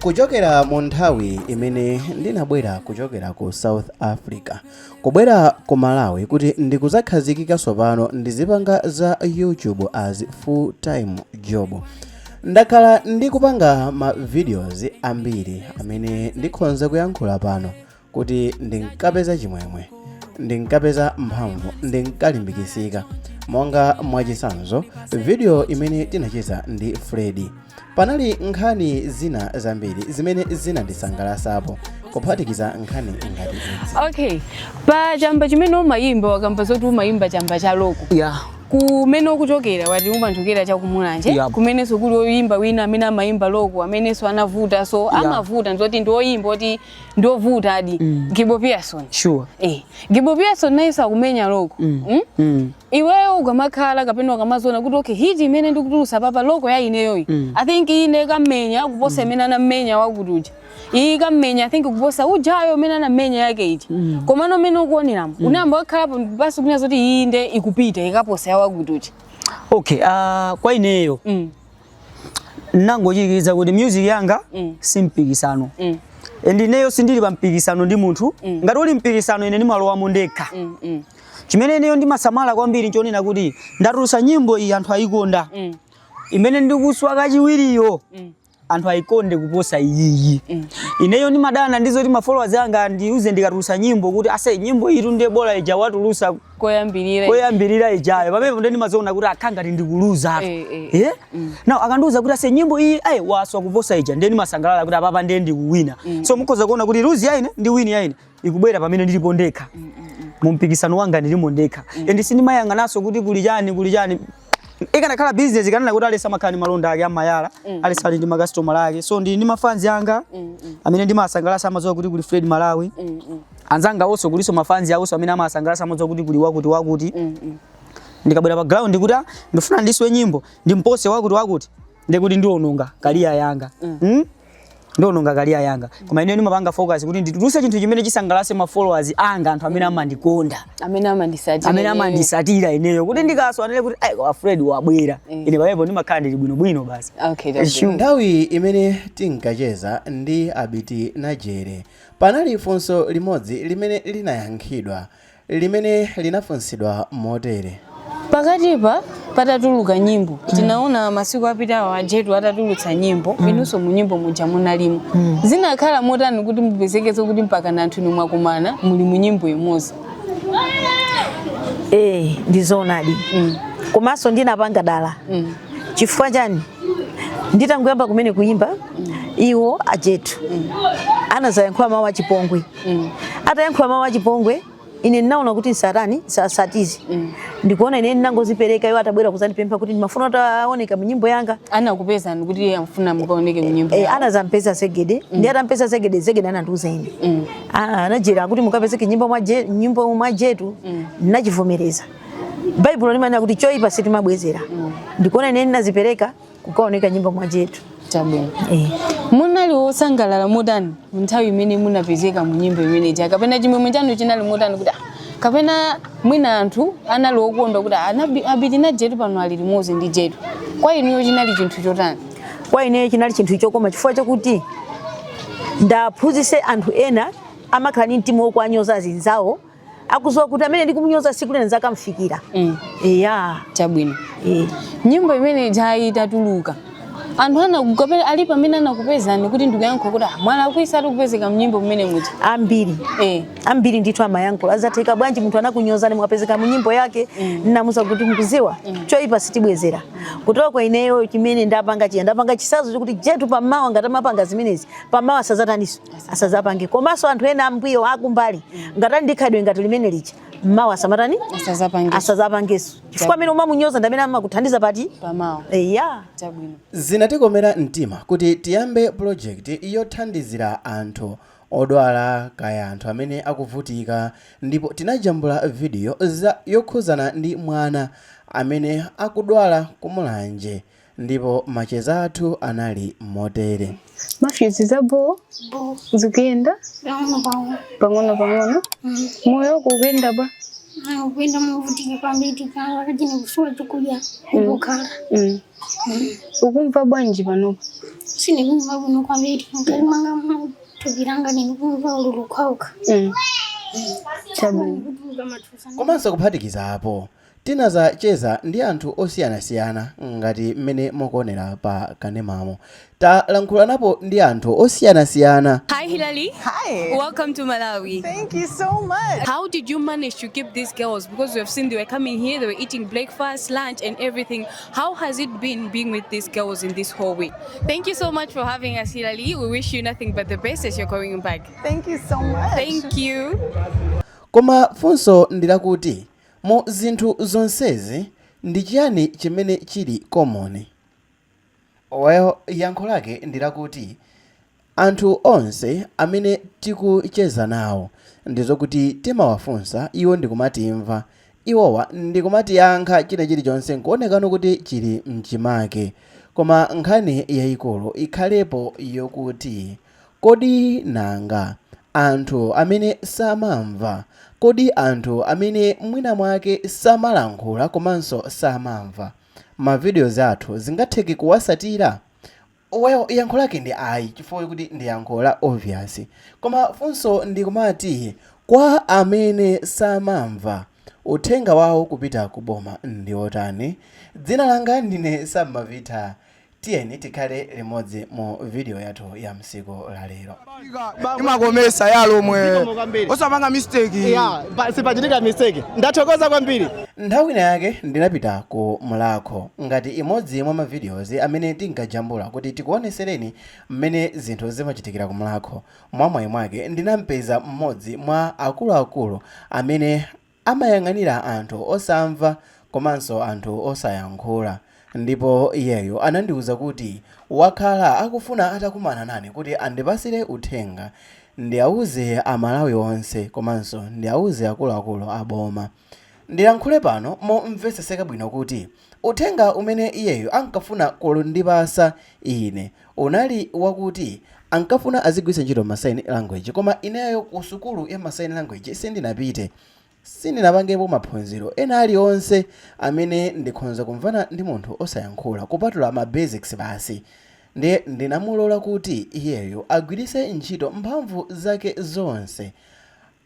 kuchokera mu nthawi imene ndinabwera kuchokera ku south africa kubwera ku malawi kuti ndikuzakhazikika tsopano ndizipanga za youtube as full time job ndakhala ndikupanga ma videos ambiri amene ndikhonza kuyankhula pano kuti ndinkapeza chimwemwe ndinkapeza mphamvu ndinkalimbikisika monga mwachisanzo vidiyo imene tinacheza ndi fredi panali nkhani zina zambiri zimene zinandisangalasapo kuphatikiza nkhani ngati izi okay pa chamba chimene umayimba wakamba zoti umayimba chamba cha loko ya kumene ukuchokera wati umachokera chakumulanje Yep. kumenenso kuli oyimba wina amene amayimba loko amenenso anavuta so amavuta ndizoti ndi oyimba oti ndiovutadi mm. gibo pearson sure. eh. gibo pearson nayenso akumenya loko mm. mm? mm. iweyo ukamakhala kapena ukamaziona kuti okay hiti imene ndikutulusa papa loko ya ineyoyi mm. i think iyi nde ikamenya kuposa imene mm. anamenya wakuti uja iyi ikamenya i think kuposa ujayo imene anamenya yake iti mm. komano mmene ukuoneramo mm. unayamba wakhalapo basi kunena zoti iyi nde ikupita ikaposa ya wakuti uja okay uh, kwa ineyo mm. nangochirikiza kuti music yanga mm. si mpikisano mm. and ineyo sindili pa mpikisano ndi munthu mm. ngati uli mpikisano ine ndimalowamo ndekha mm, mm. chimene ineyo ndimasamala kwambiri nchonena kuti ndatulusa nyimbo iyi anthu ayikonda mm. imene ndikuswa kachiwiriyo mm anthu ayikonde kuposa iyiyi mm. ineyo ndimadana ndizoti mafollowers anga andiuze ndikatulusa nyimbo kuti ase nyimbo iyitu nde bola ija watulusa koyambirira ijayo pamenepo nde ndimaziona kuti akha ngati ndikuluza apa Eh, eh, eh now akandiuza kuti ase nyimbo iyiyi waswa kuposa ija ndiye ndimasangalala kuti apapa ndiye ndikuwina so mukhoza kuona kuti luzi yaine ndi wini yaine ikubwera pamene ndilipo ndekha mu mpikisano wanga ndilimo ndekha and sindimayang'ananso kuti kuli chani kuli chani ikanakhala business ndikanena kuti aliyense amakhala ndi malonda ake amayala mm. aliyense ali ndi makasitomala ake so ndili ndi mafanzi anga mm, mm. amene ndimasangalasa amadziwa kuti kuli fred malawi mm, mm. anzangawonso kulinso mafanzi awonso amene amasangalasa amadziwa kuti kuli wakuti wakuti mm, mm. ndikabwera pa ground kuti ah, ndifuna ndiswe nyimbo ndimpose wakuti wakuti ndekuti ndiononga career yanga mm? ndiononga career yanga koma ineyo ndimapanga focus kuti ndituluse chinthu chimene chisangalase ma followers anga anthu amene amandikonda amene amandisatira ineyo kuti ndikaswa anene kuti ai koma fred wabwera Mm. ine pamenepo ndimakhala ndili bwinobwino basi okay that's Sure. nthawi imene tinkacheza ndi abiti najere panali funso limodzi limene linayankhidwa limene linafunsidwa motere. Pakatipa patatuluka nyimbo tinaona masiku apitawo a Jetu atatulutsa nyimbo inunso mu nyimbo muja munalimo zinakhala motani kuti mupezekeze kuti mpakana anthu inu mwakumana muli mu nyimbo imodzi Eh, ndi zoonadi Mm. komanso ndinapanga dala Mm. chifukwa chani nditangoyamba kumene kuyimba iwo a Jetu anazayankhula mawu achipongwe mm. atayankhula mawu achipongwe ine ndinaona kuti zisatani zisatizi mm. ndikuona ine ndinangozipereka iwo atabwera kuzandipempha kuti ndimafuna mutaoneka munyimbo yanga anakupezani kuti amfuna mukaoneke munyimbo eh, anazampeza zegede mm. ndi atampeza zegede zegede anandiuza ine mm. a Najere kuti mukapezeke nyimbo mwa nyimbo mwa Jetu mm. ndinachivomereza baibulo limanena kuti choipa sitimabwezera mm. ndikuona ine ndinazipereka kukaoneka nyimbo mwa Jetu chabwino eh. munali wosangalala motani nthawi imene munapezeka mu nyimbo imene ija kapena chimwemwe chanu chinali motani kuti ah, kapena mwina anthu anali okondwa kuti ah, anabi- Abiti Najere pano ali limodzi ndi Jetu kwa inuyo chinali chinthu chotani kwa ineyo chinali chinthu chokoma chifukwa chakuti ndiaphunzise anthu ena amakhala ndi mtima wokuwanyoza azinzawo osaziwa kuti amene ndikumunyoza siku lina nzakamfikira mm. eya chabwino e. nyimbo imene ijayi itatuluka anthu anakupera ali pamene anakupezani kuti ndikuyankha kuti ah, mwana akuisa ali kupezeka mnyimbo mmene muti ambiri eh. ambiri ndithu amayankhula zatheka bwanji munthu anakunyozani mukapezeka mnyimbo yake mm. ndinawauza kuti mukuziwa mm. choipa sitibwezera ndiye kwa ineyo chimene ndapanga chija ndapanga chisanzo chokuti Jetu pamawa ngati amapanga zimenezi pamawa asazataniso asazapange komanso anthu ena ambuyo akumbali ngati ali ndi khalidwe ngati limene lija mmawa asamatani Asazapange. asazapangeso chifukwa amene umamunyoza ndi amene amakuthandiza pati? Pamawa. eya Chabwino. zinatikomera mtima kuti tiyambe pulojekiti yothandizira anthu odwala kaya anthu amene akuvutika ndipo tinajambula vidiyo yokhuzana ndi mwana amene akudwala ku Mulanje ndipo macheza athu anali motere mafyuzi za boo zikuyenda pang'ono pang'ono moyo wako ukuyenda bwa ukuyenda movutika kwambiri panga wakati nikusowa chakudya pokhala Mm. ukumva bwanji panopa sinikumva kuno kwambiri mukati mwanga mutupiranga ninikumva ululu kwambiri Mm. chabwino kutuka mathusa komanso kuphatikiza apo Tinadzacheza ndi anthu osiyanasiyana ngati mmene mukuonera pa kanemamu. Talankhulanapo ndi anthu osiyanasiyana. Hi Hillary, Hi. welcome to Malawi. Thank you so much. How did you manage to keep these girls? Because we have seen they were coming here, they were eating breakfast, lunch, and everything. How has it been being with these girls in this whole week? Thank you so much for having us, Hilali. We wish you nothing but the best as you're going back. Thank you so much. Thank you. Koma funso ndi lakuti, Mu zinthu zonsezi, ndi chiyani chimene chiri common? Well, yankho lake ndi lakuti, anthu onse amene tikucheza nawo, ndi zokuti timawafunsa iwo ndi kumatimva iwowa ndi kumatiyankha, china chirichonse nkuwonekanso kuti chiri mchimake. Koma nkhani yayikulu ikhalepo yokuti, Kodi nanga Anthu amene samamva. Kodi anthu amene mwinamwake samalankhula komanso samamva ma videos athu zingatheke kuwasatira? Well yankho lake ndi ayi chifukwa kuti ndi yankho la obvious. Koma funso ndi kumati kwa amene samamva uthenga wawo kupita ku boma ndi otani? Dzina langa ndine Sam Mavitha Tiyeni tikhale limodzi mu video yathu ya msiku la lero. imakomesa ya lomwe Zikomo kwambiri. osapanga mistake Yeah, pa- sipachitika mistake. Ndathokoza kwambiri. nthawi ina yake ndinapita ku mulakho ngati imodzi mwa ma videos amene tinkajambula kuti tikuonesereni mmene zinthu zimachitikira ku mulakho mwamwayi mwake ndinampeza mmodzi mwa akuluakulu amene Amayang'anira anthu osamva komanso anthu osayankhula. Ndipo iyeyo anandiuza kuti wakhala akufuna atakumana nane kuti andipasire uthenga ndiauze a Malawi onse komanso ndiauze akuluakulu a boma. Ndilankhule pano momveseseka bwino kuti Uthenga umene iyeyo ankafuna kundipasa ine unali wakuti ankafuna azigwiritsa ntchito ma sign language koma ineyo ku sukulu ya ma sign language sindinapite. Sindinapangepo maphunziro ena alionse amene ndikhonza kumvana ndi munthu osayankhula kupatula ma basics basi. Ndiye ndinamulola kuti iyeyo agwiritse ntchito mphamvu zake zonse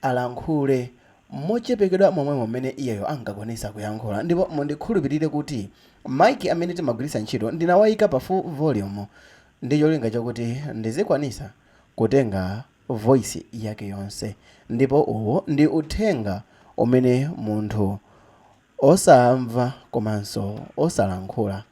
alankhule mochepekedwa momwemo mmene iyeyo ankakwanitsa kuyankhula. Ndipo mundikhulupirire kuti ma mic amene timagwiritsa ntchito ndinawaika pa full volume ndi cholinga chakuti ndizikwanitsa kutenga voice yake yonse. Ndipo uwu ndi uthenga umene munthu. osamva komanso osalankhula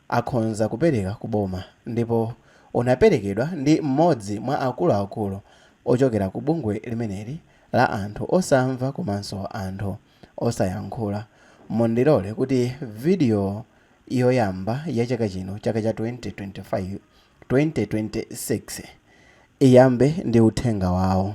akhonza kupereka ku boma ndipo unaperekedwa ndi m'modzi mwa akuluakulu ochokera ku bungwe limeneli la anthu osamva komanso anthu osayankhula. Mundilole kuti video yoyamba ya chaka chino, chaka cha 2025, 2026, iyambe ndi uthenga wawo.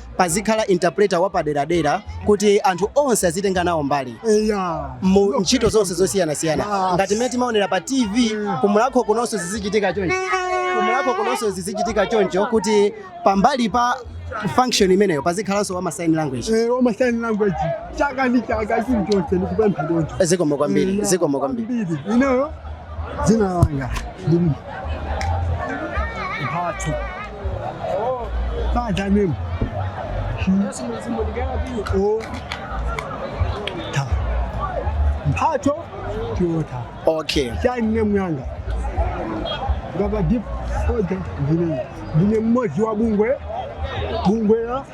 pazikhala interpreter wapaderadera kuti anthu onse azitenga nawo mbali yeah. mu ntchito zonse zosiyanasiyana Yes. ngati mmene timaonera pa tv kumulakho kunonso zizichitika choncho kumulakho kunonso zizichitika choncho kuti pambali pa function imeneyo pazikhalanso wa sign language Eh, wama sign language chaka ndi chaka chilichonse ndikupempha choncho zikomo kwambiri Yeah. zikomo kwambiri Kwambiri. ineyo dzina langa ndi mphatso Father name. He, oh, ta. Mphato Toyota. okay Sign name yanga. Ngati deaf older ndine. Ndine mmozi wa bungwe. Bungwe la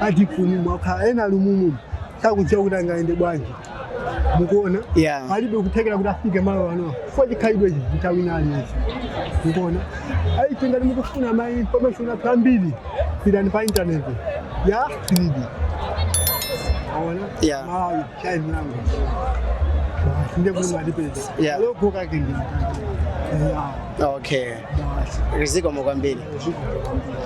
adefu ni mwakhala ena ali mumumu sakudziwa kuti angayende bwanji mukuona Yeah. palibe kuthekera kuti afike malo ano fo chikhalidwe ichi chitawina aliyense mukuona ndiye ngati mukufuna ma information athu ambiri pitani pa intaneti ya silidi aona Yeah. malawi chaizi langu nde kuti mwatipeza Yeah. logo kake ndi Yeah. okay Basi. zikomo kwambiri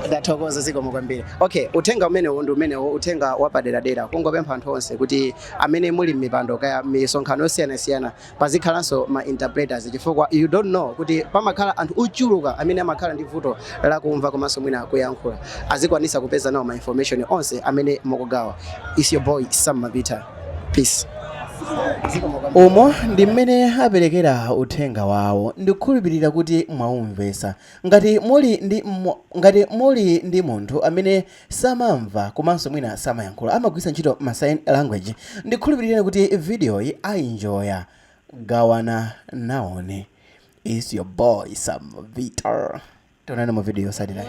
ndathokoza zikomo kwambiri Ok, uthenga umenewo ndi umenewo, uthenga wapaderadera, kungopempha anthu onse kuti amene muli mmipando kaya misonkhano yosiyanasiyana pazikhalanso ma interpreters chifukwa you don't know kuti pamakhala anthu ochuluka amene amakhala ndi vuto lakumva komanso mwina kuyankhula, azikwanisa kupeza nawo ma information onse amene mukugawa. It's your boy Sam Mabita. Peace. Umo ndi mmene aperekera uthenga wawo. Ndikukhulupirira kuti mwaumvetsa. Ngati muli ndi Ngati muli ndi munthu amene samamva komanso mwina samayankhula amagwiritsa ntchito ma sign language ndikhulupirireni kuti video yi ayinjoya gawanani nawoni it's your boy Sam Mabita tionane mu video yotsatirayi.